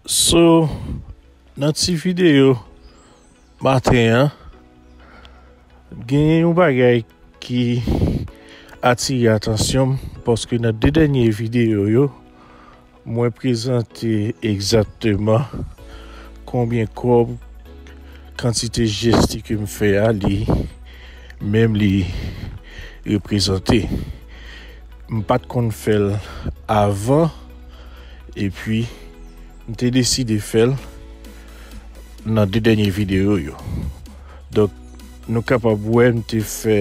So nan ti video maten an genyen yon bagay ki atire atansyon m paske nan 2 dènye video yo Mwen prezante egzakteman konbyen kòb kantite jesti ke m fè a li menm li reprezante. M pa t konn fè l avan epi m te deside fè l nan 2 dènye videyo yo. Donk nou kapab wè m te fè.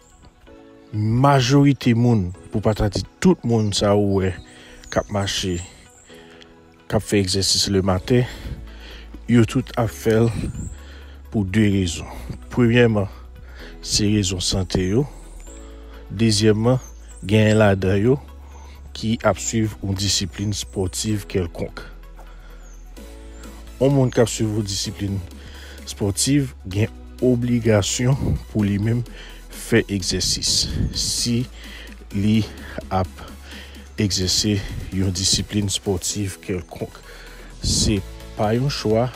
Majorite moun, pou pa ta di tout moun sa ou wè k ap mache, k ap fè egzèsis lematen, yo tout ap fè l pou de rezon. Premyèman, se rezon sante yo. Dezyèmman, genyen ladan yo ki ap suiv yon disiplin espòtiv kèlkonk. On moun kap swiv yon disiplin spòtiv gen obligasyon pou li menm fè egzèsis si li ap egzèse yon disiplin spòtiv kèlkonk. Se pa yon chwa,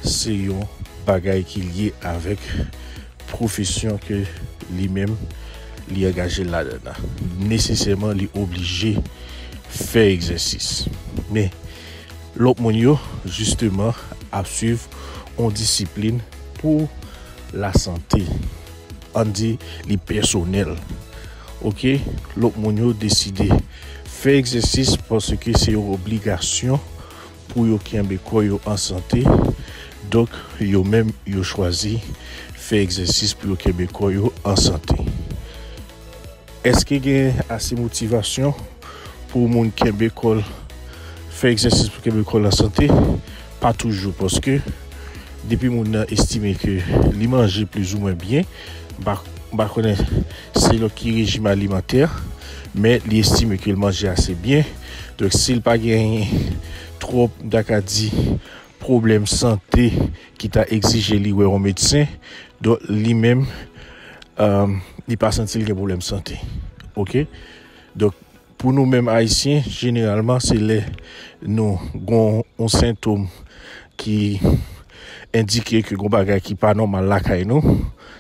se yon bagay ki lye avèk. pwofesyon ke li menm li angaje l ladann nan, nesesèman li oblije fè egzèsis. Men, lòt moun yo, jisteman, ap swiv yon disiplin pou lasante. An n di li pèsonèl. Oke, lòt moun yo deside fè egzèsis paske se yon obligasyon. Pou yo kenbe kò yo an sante, donk yo menm yo chwazi fè egzèsis pou yo kenbe kò yo an sante. Èske gen ase motivasyon pou moun kenbe kò l, fè egzèsis pou kenbe kò l an sante? Pa toujou, paske depi moun nan estime ke li manje plizoumwen byen, m pa konnen. selon ki rejim alimantè, men li estime ke l manje ase byen, donk si l pa genyen twòp, m ta ka di, pwoblèm sante ki ta egzije li wè yon medsen, donk li menm li pa santi l gen pwoblèm sante. Ok, donk Pou nou menm Ayisyen, jeneralman se lè nou gon yon sentom ki endike ke gon bagay ki pa nòmal lakay nou,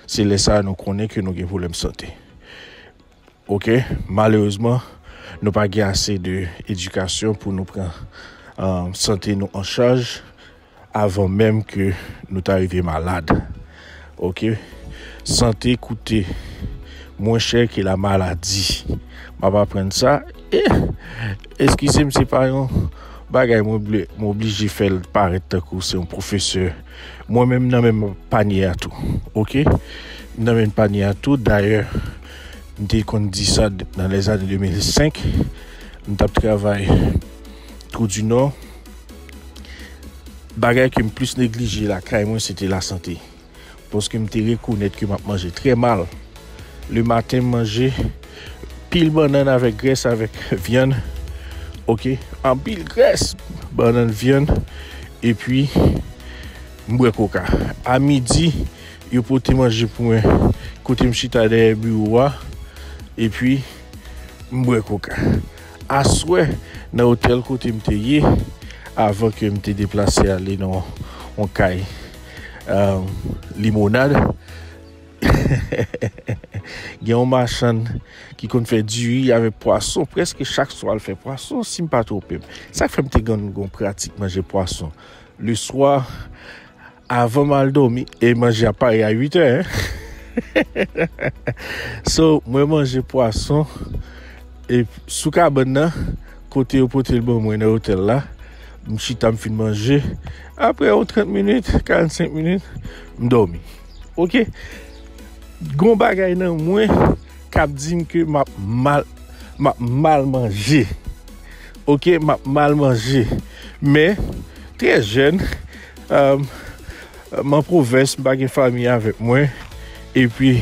se lè sa nou konnen ke nou gen pwoblèm sante. Ok, malerezman nou pa gen ase de edikasyon pou nou pran sante nou an chaj avan menm ke nou ta rive malad. Ok, sante koute mwen chè ke la maladi. M ap aprann sa, e, eskize m se pa yon bagay mwen vle, m oblije fè l parèt tankou se yon pwofesè. Mwen menm m nan menm panye a tou. Ok, m nan menm panye a tou. Dayè, m te konn di sa nan lèzane 2005, m t ap travay Twou di Nò. Bagay ke m plis neglije lakay mwen se te lasante. Paske m te rekonèt ke m ap manje trè mal. Le maten m manje pil bannann avèk grès avèk vyann ok anpil grès bannann vyann epi m bwè koka. A midi yo pote manje pou mwen kote m chita dèyè biwo a epi m bwè koka. Aswè, nan otèl kote m te ye avan ke m te deplase ale nan yon kay limonad, gen yon machann ki konn fè diri avèk pwason. Prèske chak swa l fè pwason, si m pa twonpe m. Sa k fè m te konn gen yon pratik manje pwason leswa. Avan m al domi, e manje a pare a 8 è. So, mwen manje pwason e sou kabann nan, kote yo pote l ban mwen nan otèl la. M chita, m fin manje. Apre yon 30 minit, 45 minit, m domi. Ok? Gon bagay nan mwen kap di m ke m ap mal, m ap mal manje. Ok? M ap mal manje. Men, trè jèn. M an pwovens, m pa gen fami avèk mwen. E pi,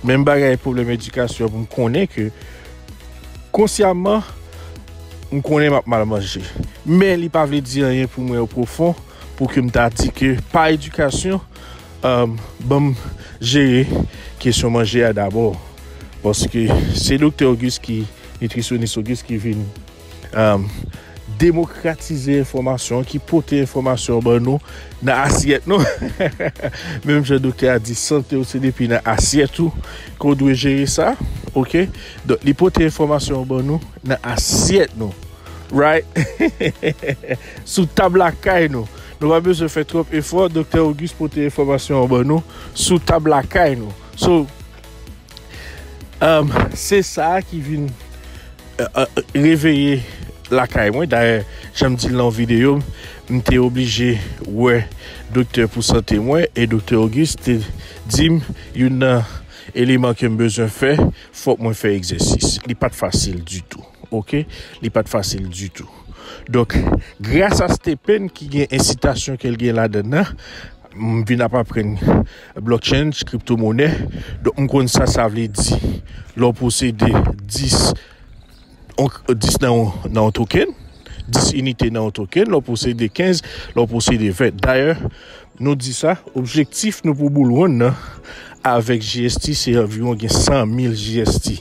menm bagay pwoblèm edikasyon pou m konnen ke konsyaman m konnen m ap mal manje. Men li pa vle di anyen pou mwen o pwofon pou ke m ta di ke pa edikasyon ban m jere kesyon manje a dabò. Paske se doktè Ogis ki, nitrisyonis Ogis ki vin. Demokratize enfòmasyon ki pote enfòmasyon ban nou nan asyèt nou. Menm jan doktè a di sante ou se depi nan asyèt ou ke w dwe jere sa. Ok? Donk li pote enfòmasyon ban nou nan asyèt nou. Right? Sou tab lakay nou. Nou pa bezwen fè twòp efò, doktè Auguste pote enfòmasyon ban nou sou tab lakay nou. So. Se sa ki vin reveye lakay mwen. Dayè, jan m di l nan yon videyo, m te oblije wè doktè pou sante mwen. E doktè Auguste te di m, youn nan eleman ke m bezwen fè, fòk mwen fè egzèsis. Li pa t fasil ditou, oke. Li pa t fasil ditou. Donk, grasa stephen ki gen ensitasyon ke l gen ladann nan, M vin ap aprann blockchain, crypto monè, donk m konn sa sa vle di lè w posede 10 10 nan yon nan yon token, 10 inite nan yon token, lè w posede 15, lè w posede 20. Dayè, nou di sa, objektif nou pou boul wonn nan avèk GST se anviwon gen 100 mil GST.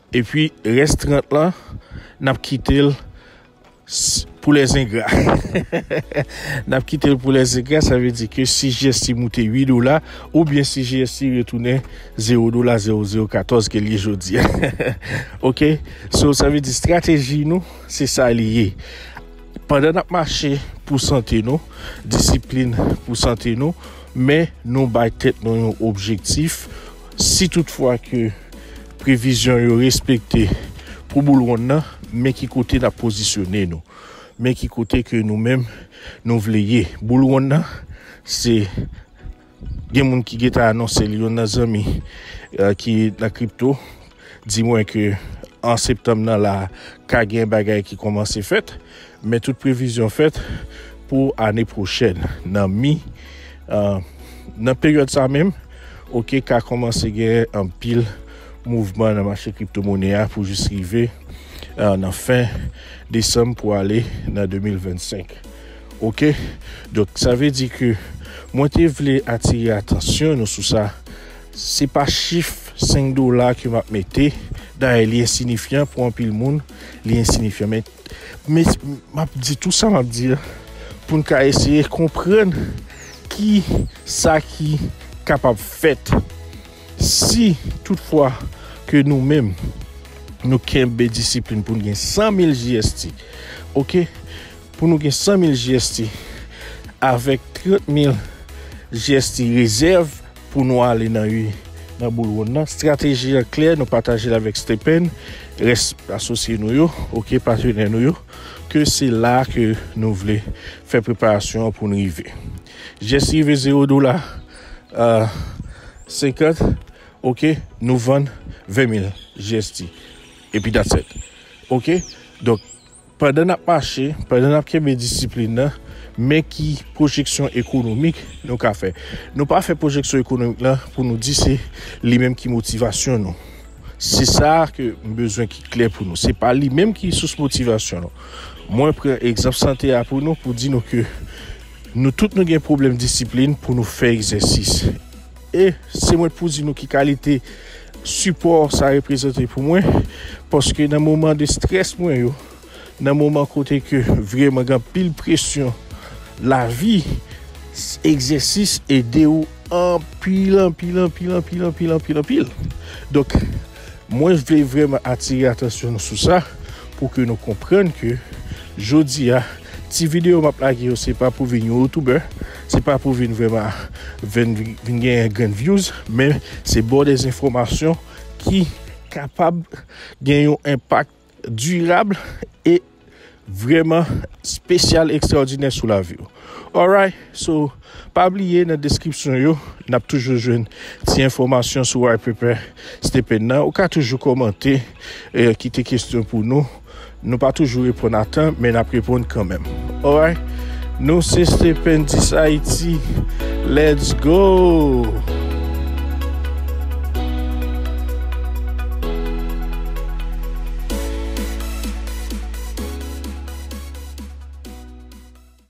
Epi rès 30 lan nap kitel pou les ingrats nap kitel pou les ingrats sa vle di ke si GST moute 8 dola ou byen si GST retounen 0 dola 0014 ke li ye jodia ok so sa vle di strateji nou se sa li ye pandan nap mache pou sante nou disiplin pou sante nou men nou bay tèt nou yon objektif Si tout fwa ke previzyon yo respekte pou boul wonn nan, men ki kote n ap pozisyone nou. Men ki kote ke nou menm nou vle ye. Boul wonn nan, se gen moun ki gentan anonse li, youn nan zanmi ki nan kripto, Di mwen ke an septanm nan la ka gen bagay ki kòmanse fèt, men tout previzyon fèt pou ane pwochèn nan mi nan peryòd sa menm ok ka kòmanse gen anpil mouvman nan mache kripto mone a pou jis rive nan fen desanm pou ale nan 2025 ok donk sa vle di ke mwen te vle atire atansyon nou sou sa. Se pa chif 5 dola ke map mete, dayè li ensinifyan pou anpil moun, li ensinifyan men map di tou sa map di pou n ka eseye konprann ki sa ki kapab fèt si tout fwa ke nou menm nou kenbe disiplin pou n gen 100 mil JST ok pou nou gen 100 mil JST avèk 30 mil JST rezèv. Pou nou ale nan ui nan boul wonn nan. Strateji an klè nou patajel avèk Stephen, rès asosye nou yo ok patenè nou yo ke se la ke nou vle fè preparasyon an poun rive. Jès rive 0 dola 50 ok nou vann 20 mil jst epi that's et ok donk. Pandan n ap mache, pandan n ap kenbe disiplin nan, men ki pwojeksyon ekonomik nou ka fè. Nou pa fè pwojeksyon ekonomik lan pou nou di se li menm ki motivasyon nou. Se sa ke m bezwen ki klè pou nou. Se pa li menm ki sous motivasyon nou. Mwen pran egzanp sante a pou nou pou di nou ke nou tout nou gen pwoblèm disiplin pou nou fè egzèsis. E se mwen k pou di nou ki kalite sipò sa reprezante pou mwen, paske nan moman de strès mwen yo, nan moman kote ke vreman gen anpil presyon lavi, egzèsis ede ou anpil, anpil, anpil, anpil, anpil, anpil, anpil. Donk. Mwen vle vrèman atire atansyon nou sou sa pou ke nou konprann ke jodi a ti videyo map lage yo se pa pou vin yon youtubè, se pa pou vin vrèman vin genyen grenn vyouz men se baw dèz enfòmasyon ki kapab gen yon enpak. Dirab e vrèman spesyal ekstraòdinè sou lavi w. Alright, so pa bliye nan deskripsyon yo nap toujou jwenn ti enfòmasyon sou White Paper Stephen nan. Ou ka toujou kòmante, kite kestyon pou nou. Nou pa toujou reponn atan men nap reponn kanmenm. Alright. Nou se stependis Haiti let's go.